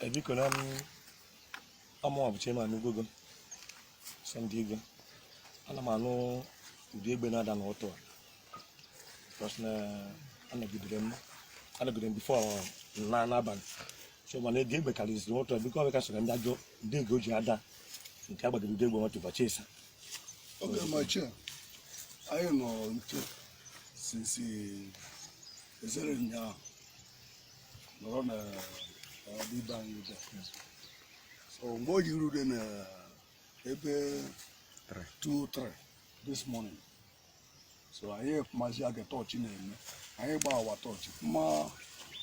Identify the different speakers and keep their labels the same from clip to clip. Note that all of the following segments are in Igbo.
Speaker 1: e biko na mụwa bụ Chairman Ugogo Sunday Igwe ana m anụ ụda egbe na-ada n'ụtụtụ a because na anọgidere m anọgidere m before na n'abalị so mana oge egbe karịziri ụtụtụ a biko ọbịka soro ndị ajọ ndị ego ji ada nke agbagide ụdị egbe nwatụ ụbọchị ịsa oge
Speaker 2: machi a anyị nọ nche since ezere ụnyaahụ nọrọ na ibe anyị ebe so mgbe o ji rute na ebe 2-3 this morning so anyị mazi aga torch na-eme anyị gbaa our torch ma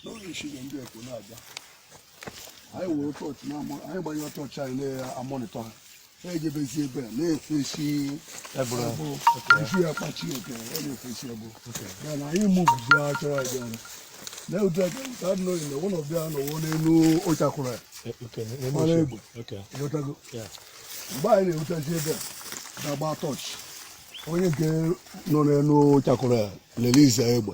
Speaker 2: n'oge nshige ndị ekwo na-abịa anyị were torch na anyị gbanyere torch anyị na-amonitor ha na-ejebezi ebe a na-efesi efu ya kpachi oke ọ na-efesi ebe ya na anyị moveụzi achọrọ abịa na ụdị aka nke adị n'oyi na ụlọ bịa nọọ n'elu ụchakwụrụ ya
Speaker 1: mara egbe ịghọtago mgbe
Speaker 2: anyị na-erutazi ebe a na-agba torch onye nke nọ n'elu ụchakwụrụ ya release egbe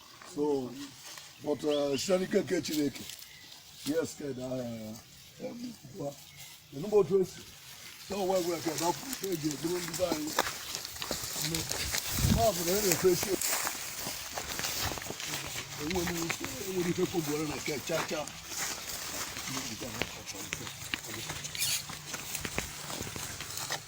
Speaker 2: so but uh, site n'ike nke Chineke yes ked aha ya egbukwa enugbo otu esi so wee wee ked ọkụ eji eburu ndị be anyị nne ma ọ bụ na e na-efe esi enwere ike enwere ike kogbuere na ke cha cha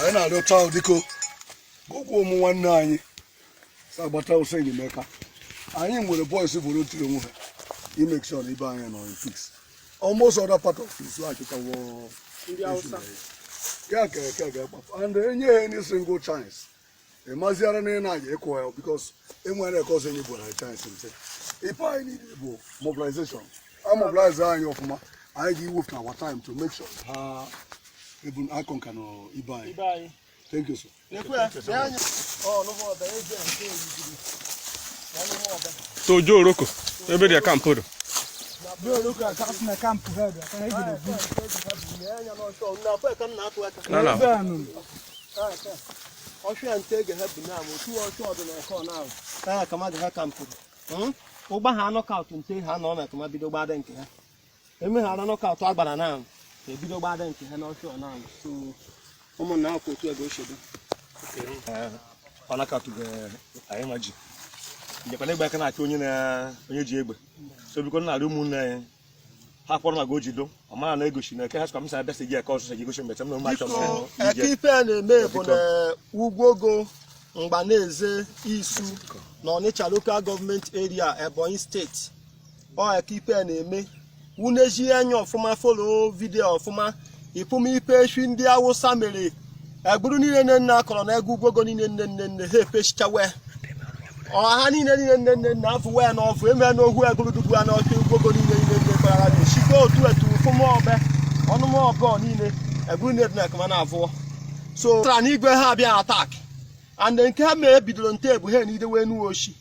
Speaker 2: anyị na-arịọcha biko ụkwụ ụmụ nwanne anyị sị ha gbata ọsọ enyemaka anyị nwere boys volunteer onwe ha imake sure na ibe anyị nọ in peace almost other part of this so achịtawo ya ka eke ga-akpapụ and enye ha any single chance ị maziara na ị na-aga ịkụ ya because enwere eke ọzọ enyi gwara chance nte ife anyị need bụ mobilization a mobilize anyị ọfụma anyị ga-ewepụta our time to make sure ha ebun akọ nka na ibe anyị thank you
Speaker 3: sir so ojo oroko ebe ndị a camp
Speaker 4: do na
Speaker 1: na ọchụ ya nte ege ha bụ na-amụ otu ọchụ ọdịna ọkọ na-ahụ na akama ndị ha campụrụ ị gbaa knockout nte ha nọ na akama bido gbada nke ha emeghara knockout agbara na ahụ ebido gbada nke ha n'ọchụ ọ na-ahụ so ụmụnna ahụ ka otu ego ochebe on account anyị ma ji njekwana egbe aka na-achị onye ji egbe so biko na-arịọ ụmụnne anyị ha kpọrọ maka ojido ọ mara na egosi na eke ha sịkwa m sa bịasị gị eke ọsụsọ ji egosi mbecha m na ụmụ achọ biko eke ife a na-eme bụ na ugwogo mgbaneze isu na ọnịcha local government area ebonyi state ọ eke ife a na-eme unu eji anya ọfụma follow video ọfụma ị fụma ife efi ndị awụsa mere egburu niile niile niile a kọrọ na egu ugwogo niile niile niile niile ha efechichawe ọ ha niile niile nne nne nna afụ wee na ọfụ eme na ohu egburu dugbu ya na ọfịa ugwogo niile niile nne kpara na echike otu etu ụfụmọbe ọnụmọbọ niile
Speaker 5: egburu niile dị na ekema na avụọ so tara na igwe ha abịa attack and nke ha mee bidoro nte ebu ha na idewe enuwe oshi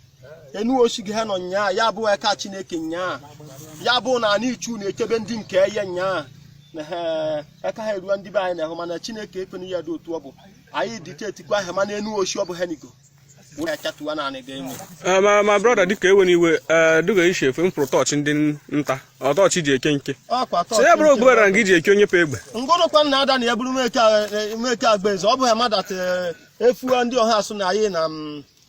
Speaker 5: enu oshi gị ha nọ nyaa ya bụ eka chineke nyaa ya bụ na ana ichu na-echebe ndị nke ya nyaa na ha eka ha eruo ndị be anyị na-ahụ mana chineke ekwena ya dị otu ọ bụ anyị detectikwa ha mana enu oshi ọ bụ ha nigo wee achatuwa naanị
Speaker 3: ga-enwe Eh, my my brother dịka ewe na iwe eh, dịka isi efe mkpụrụ tọọchị ndị nta ọ tọọchị ji eke nke ọkwa tọọ so ya bụrụ ogbubara na gị ji eke onye pe egbe ngụrụkwa nna ada na ya
Speaker 5: bụrụ meke agba eze ọ bụ ha madat efuwa ndị ọha asụ na anyị na m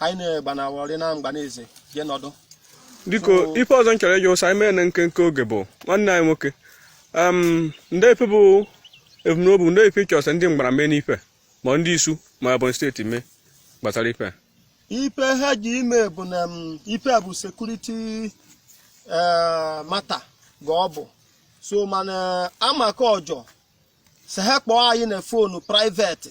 Speaker 5: anyị na-egbanawọrị na mgbaneze je nọdụ
Speaker 3: biko ife ọzọ m chọrọ ịjụ ụsa anyị mee na nkenke oge bụ nwanne anyị nwoke em ndị ife bụ ebumnobi ndị ife ị chọsị ndị mgbara mee n'ife ma ndị isu ma Ebonyi state mee gbasara ife a ife
Speaker 5: ha ji ime bụ na m, ife a bụ security matter ga ọ bụ so mana amaka ọjọ sị ha kpọọ anyị na phone private